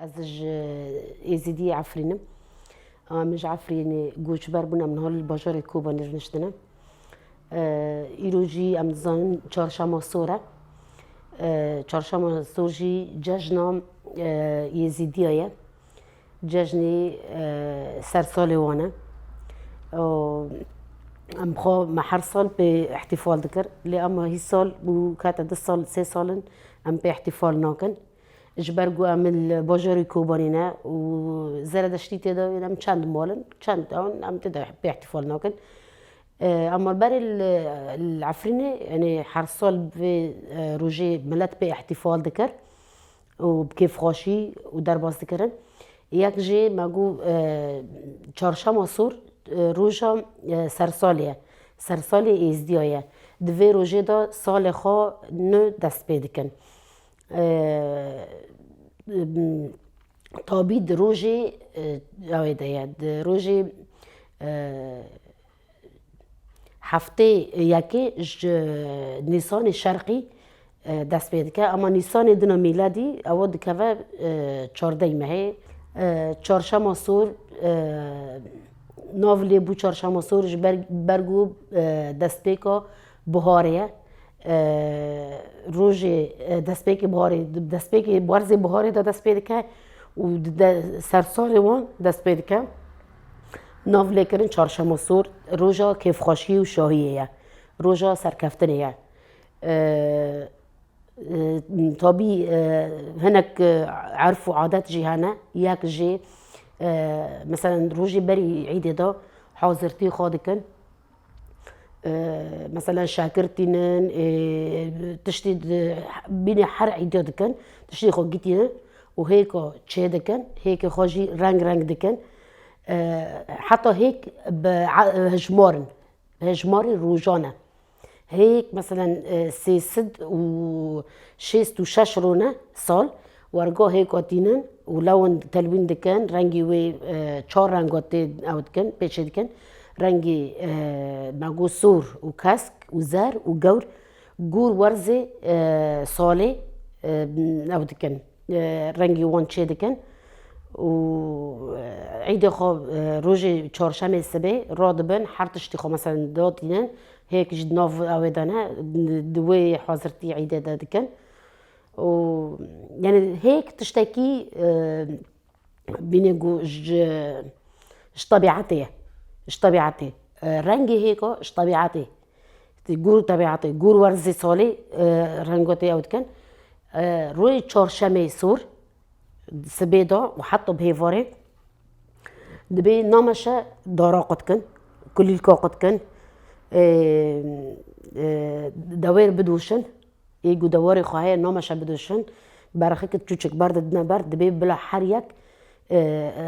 Ez ji Êzîdiyê Efrîn im. Min ji Efrînê goç ber bûn em niha li bajarê Kobanê niştin in. Îro jî em dizanin çarşema sor e. Çarşema sor jî cejna Êzîdiya ye. Cejnê ser salê wan e. Em xwe me her sal pê îhtîfal dikir lê ema hîsal û kete du sal sê sal in em pê îhtîfal nakin. Ji ber ku em li bajarê Kobanê ne û Zeredeştî tê de em çend mal in, çend ew in em tê de pê îhtîfal nakin. Ama berê li Efrînê yanî her sal bi vê rojê milet pê îhtîfal dikir û bi kêfxweşî û derbas dikirin. Yek jî me got Çarşema Sor roja sersalê ye. Sersalê Êzidiya ye. Di vê rojê de salê xwe nû dest pê dikin. Tabî di rojê awê de ye di rojê heftê yekê ji nîsanê şerqî dest pê dike ema nîsanê din a mîladî ew dikeve çardeh mehê. Çarşema sor nav lê bû çarşema sor ji ber ku destpêka Buharê ye. Rojê destpêkê buharê destpêkê werzê buharê de dest pê dike û sersalê wan dest pê dike. Nav lêkirin çarşema sor roja kêfxweşiyê û şahiyê ye. Roja serkeftinê ye. Tabî hinek erf û adet jî hene. Yek jî meselen rojê berî îdê de hazirtî xwe dikin Mesela şakir tînin tiştî bînî her îdîa dikin tiştê xwe gîtînin û hêka çê dikin hêkê xwe jî reng reng dikin heta hêk bi hejmar in bi hejmarî rojan e Hêyek meselen sê sed û şêst û şeş rûne sal wergo hêk o tînin û lewin telwîn dikin rengî wê çar rengo tê ew dikin pêçê dikin rengî me got sor û kesk û zer û gewr gûr werzê salê ew dikin rengî wan çê dikin û îdê xwe rojê çarşemê sibê radibin her tiştî xwe meselen da tînin Hêk ji nav awê de ne di wê hazirtî îdê de dikin û yanî hêk tiştekî bîne ku ji ji tebîetê ye ji tebîetê rengê hêka ji tebîetê gûr û tebîetê gûr werzê salê rengatê ew dikin rojê çarşemê sor Sibê da û heta bi hêvarê dibê nameşe dara qut kin, kulîlka qut kin, dewêr bidoşin, ê ku dewarê xwe heye nameşe bidoşin, berxik çûçik ber didine ber dibê bila her yek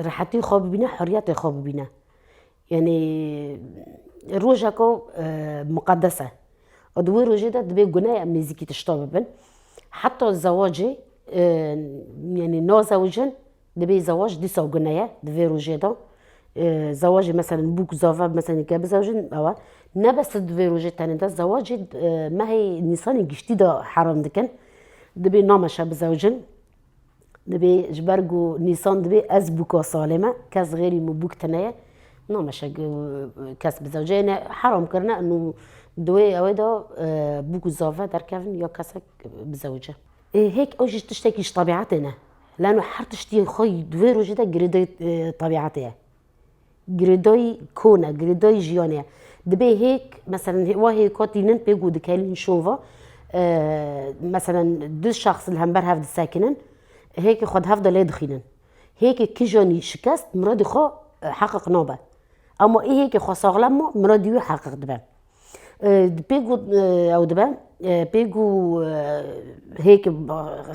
rehetî xwe bibîne, heriyetê xwe bibîne. Yanî roja ku muqedes e û di wê rojê de dibê guneyên nêzîkî tişta bibin. Heta zewacê yanî nazewijin dibê zewac dîsa gune ye di vê rojê de. Zewacê meselin bûk zave meselin ke bizewicin ewe ne bes di vê rojê tenê de zewacê mehê nîsanê giştî de heram dikin. Dibê nameşe bizewicin. Dibê ji ber ku Nîsan dibê ez bûka salê me, kes xêrî min bûk tune ye. Nameşe ku kes bi zewceyê ne heram kirine û di wê ewê de bûk û zave derkevin ya kesek bi zewce. Hêk ew jî tiştekî ji tebîetê ne. Lano her tiştî xwe di wê rojê de girêdayî tebîetê ye. Girêdayî kon e, girêdayî jiyanê ye. Dibê hêk meselen hê wa hêka tînin pê ku dikelîn şova meselen du şexs li hember hev disekinin hêkê xwe di hev de lê dixînin. Hêkê kijanî şikest miradê xwe heqiq nabe. Ema ê hêkê xwe saxlem ma miradî wî heqiq dibe. Pêk got ew dibe, pêk got hêk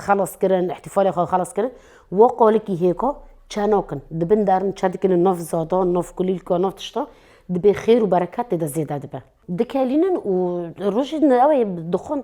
xelas kirin, îhtîfalê xwe xelas kirin, wo qalikî hêka çe nakin, di bin derin çe dikin û nav zadan, nav kulîlka, nav tiştan dibê xêr û bereket tê de zêde dibe. Dikelînin û rojî din ew ê dixwin.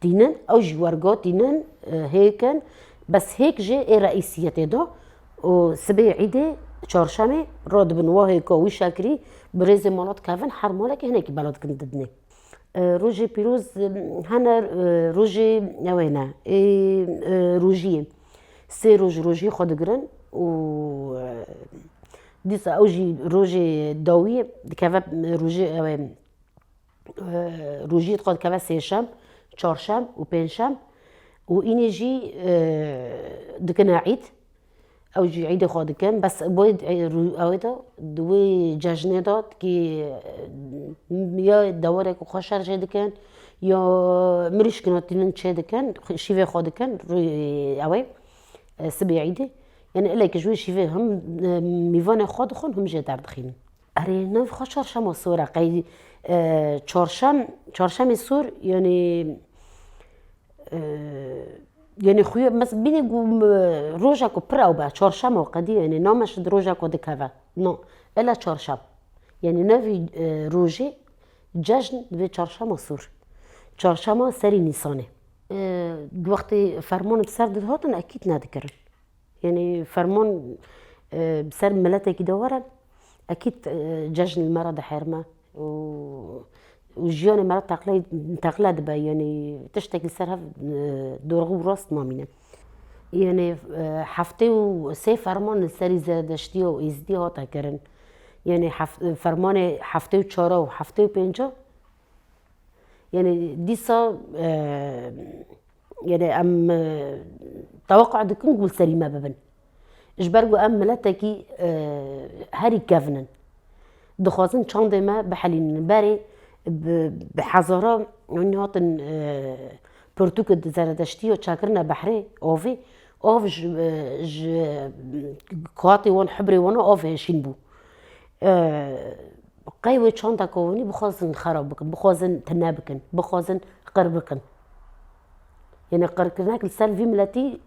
Tînin, ew jî wergot tînin hêk in, bes hêk jî ê reîsiyetê de û sibê îdê çarşemê re dibin wa hêka wî şakirî bi rêzê mala dikevin her malekê hinekî bela dikin didinê. Rojê pîroz hene rojê ewê ne ê rojiyê sê roj rojiyê xwe digirin û dîsa ew jî rojê dawiyê dikeve rojê ewê rojiyê dixwe dikeve sêşem, çarşem û pêncşem û înê jî dikine îd. Ew jî îdê xwe dikin bes bo ewê de di wê cejnê de tikî ya dewerek xwe şer çêdikin ya mirîşk na tînin çêdikin şîvê xwe dikin ewê sibê îdê. Yanî ilekî ji wê şîvê him mîvanê xwe dixwin him jê derdixînin. Erê no xwe çarşema sor e qey çarşem çarşemê sor yanî yanî xuya mes bîne ku roja ku pir ew be çarşema qedî yanî name şid roja ku dikeve no bila çarşem yanî nevî rojê cejn divê çarşema sor çarşema serî nîsanê di wextê ferman bi ser dihatin ekîd nedikirin. Yanî ferman bi ser miletekî de were ekîd cejn li me re diherime û jiyanê me re teqle dibe yanî tiştek li ser hev dorxû û rast namîne. Yanî heftê û sê ferman li serî zeredeştiya û êzidîya hate kirin. Yanî fermanê heftê û çar a û heftê û pênc a Yanî dîsa yanî em teweqa dikin ku li serî me bibin. Ji ber ku em miletekî herî kevin in. Dixwazin çandê me bihelînin. Berê bi hezaran hûn hatin pirtûk di zeredeştî ya çakirine behrê avê. Av ji ji kuatê wan hibrê wan a av hêşîn bû. Qey wê çanda kovûnî bixwazin xerab bikin, bixwazin tune bikin, bixwazin qir bikin. Yenê qirkirina li ser vî miletî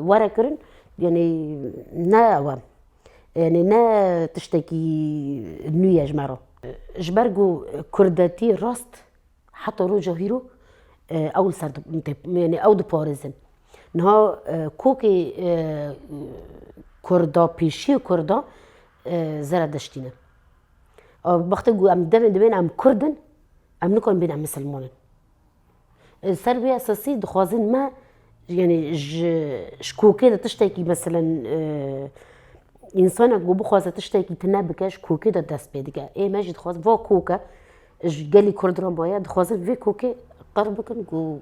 were kirin yenê ne ewe yenê ne tiştekî nû ye ji me re. Ji ber ku kurdetî rast Heta roja hîro ew li ser yanî ew diparêzin. Niha kokê kurda pêşiyê kurda zeredeştî ne. Wextê ku em demên dibên em kurd in em nikarin bên em misilman in. Li ser vê esasî dixwazin me Yanî ji ji kokê de tiştekî meselen însanek ku bixwaze tiştekî tune bike ji kokê de dest pê dike. Ê me jî dixwazin va koke ji gelê kurd re maye dixwazin vê kokê qir bikin ku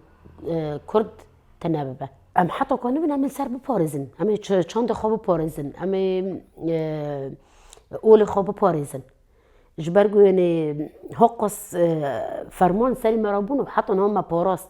kurd tune bibe. Em heta ku nibin em ê li ser biparêzin, em ê çandê xwe biparêzin, em ê olê xwe biparêzin. Ji ber ku yanî haqas ferman li serê me re bûn û heta niha me parast.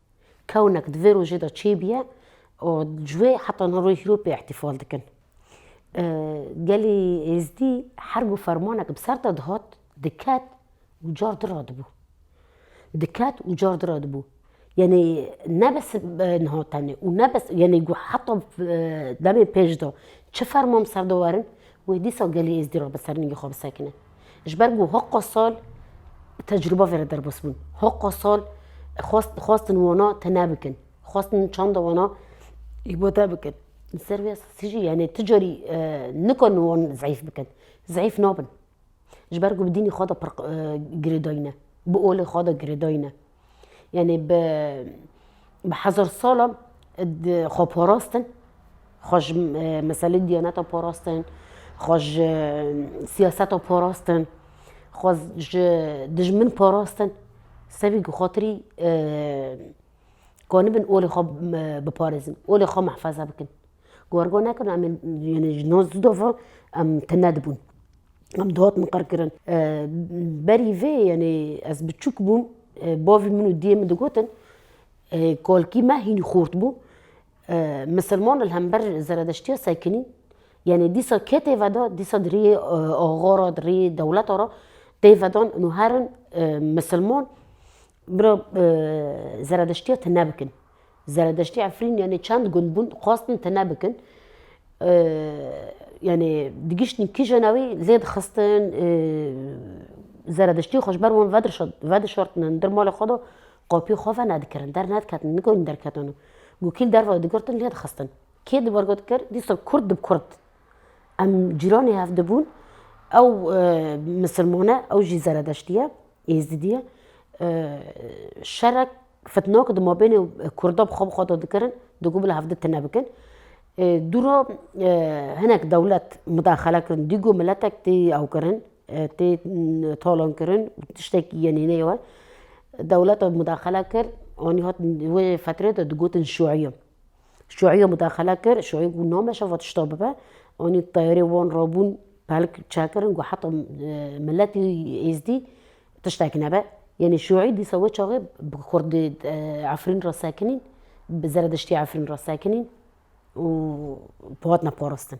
kewnek di vê rojê de çêbûye û ji wê heta niha rojê hîropê îhtîfal dikin. Gelê Êzdî her ku fermanek bi ser de dihat diket û car diradibû. Diket û car diradibû. Yanî ne bes niha tenê û ne bes yanî ku heta demê pêş de çi ferman bi ser de werin wê dîsa gelê Êzdî re bi ser ningê xwe bisekine. Ji ber ku hiqûqa sal tecrûba vere derbasbûn. Hiqûqa sal xwestin wana tune bikin. Xwestin çanda wana îbade bikin. Li ser vê esasî jî yanî tu carî nikarin wan zayîf bikin. Zayîf nabin. Ji ber ku bi dînê xwe de pir girêdayî ne. Bi olê xwe de girêdayî ne. Yanî bi bi hezar salan xwe parastin, xwe ji meselê diyaneta parastin, xwe ji siyaseta parastin, xwe ji dijmin parastin. Sebî ku xatirî kanibin olê xwe biparêzin, olê xwe mihfeze bikin. Gorgo nekirn em ê ji no zido ve em tune dibûn em di hot min qir kirin berî vê yanê ez biçûk bûm bavê min û diyê min digotin kolkî me hînî xort bû misilman li hember zeredeştiya sekinî yanê dîsa ke tê veda dîsa di rêyê axa ra di rêyê dewleta ra tê vedan û herin misilman Biro zeredeştiya tune bikin. Zeredeştê Efrîn yanê çend gund bûn dixwastin tune bikin. Yanê digiştin kîja navê lê dixistin zeredeştiyê xwe ji ber wan vedişartinin dir malê xwe de qapiyê xwe venedikirin dernediketin nikewin derketin û gokîl derve digirtin lê dixistin. Kê di ber got kir dîsa kurd di bi kurd. Em cîranê hev dibûn ew misilman e ew jî zeredeştî ye êzidî ye şerek fitnak di mabênê kurda bi xwe bi xwe de dikirin digo bila hev di tune bikin. Dûra hinek dewlet mudaxele kirin dîgo miletek tê ewkirin tê talankirin tiştek yenê neywe dewleta mudaxele kir anî hat wê fetrê de digotin şûeyê. Şuîyê mudaxele kir, şuî got nameşe va tişta bibe. Anî teyarê wan rabûn pelk çekirin got heta miletî êzdî tiştek nebe. Yanî şuî dîsa wê çaxê bi kurdî Efrîn re sekinîn, bi zerediştî Efrîn re sekinîn û hatine parastin.